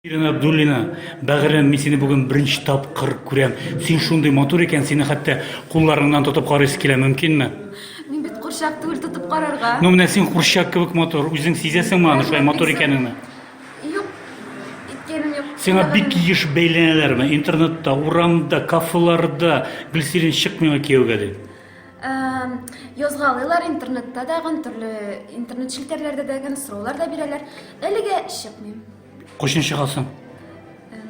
Ирина Абдуллина, бәгырем, мин сине бүген беренче тапкыр күрәм. Син шундый матур икән, сине хәтта кулларыңнан тотып карыйсы килә, мөмкинме? Мин бит курчак түгел тотып карарга. Ну, менә син курчак кебек матур, үзең сизәсеңме аны шулай матур икәнеңне? Юк, иткәнем юк. Сиңа бик еш бәйләнәләрме? Интернетта, урамда, кафеларда Гөлсирин чык миңа кияүгә дип. язгалыйлар интернетта дагын төрле интернет челтәрләрдә дәген сораулар да бирәләр әлегә чыкмыйм кайчан чыгасың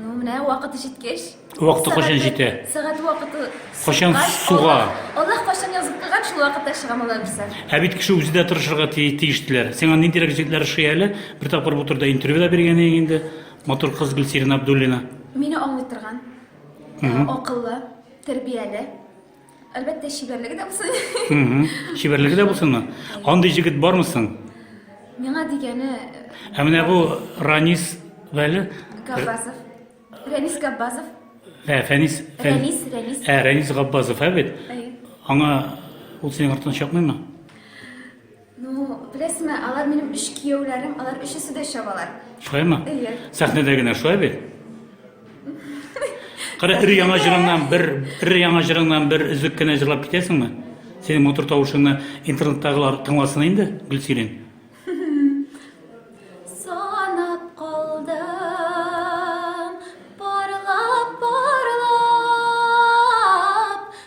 ну менә вакыты җиткәч вакыты кайчан җитә сәгате вакыты кайчан суга аллаһ кайчан язып куйган шул вакытта чыгам алла бирсә ә бит кеше үзе дә тырышырга тиеш диләр сиңа ниндирәк җегетләр ошый әле бер тапкыр бу турыда интервью да биргән идең инде матур кыз гөлсирина абдуллина мине аңлый торган акыллы тәрбияле Әлбәттә, чибәрлеге дә булсын. Чибәрлеге дә булсынмы? Андый җегет бармы соң? Миңа дигәне... Ә менә бу Ранис Вәли... Габбазов. Рәнис Габбазов. Ә, Фәнис... Рәнис, Рәнис. Ә, Рәнис Габбазов, ә бит? Аңа ул синең артына чапмыймы? Ну, беләсеңме, алар минем өч кияүләрем, алар өчесе дә чабалар. Шулаймы? Әйе. Сәхнәдә генә шулай бит. Кара ир яңа җырыңнан бер, ир яңа җырыңнан бер өзек кенә җырлап китәсеңме? Синең матур тавышыңны интернеттагылар тыңласын инде, Гөлсирин. Санап калдым, парлап, парлап,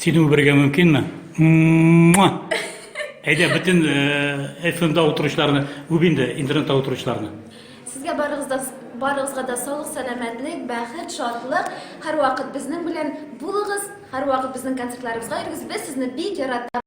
Сине үбәргә мөмкинме? Муа! Әйдә, бөтен FM-да утыручыларны үб инде, интернетта утыручыларны. Сезгә барыгыз да барыгызга да саулык, сәламәтлек, бәхет, шатлык. Һәрвакыт безнең белән булыгыз, һәрвакыт безнең концертларыбызга йөрегез. Без сезне бик яратабыз.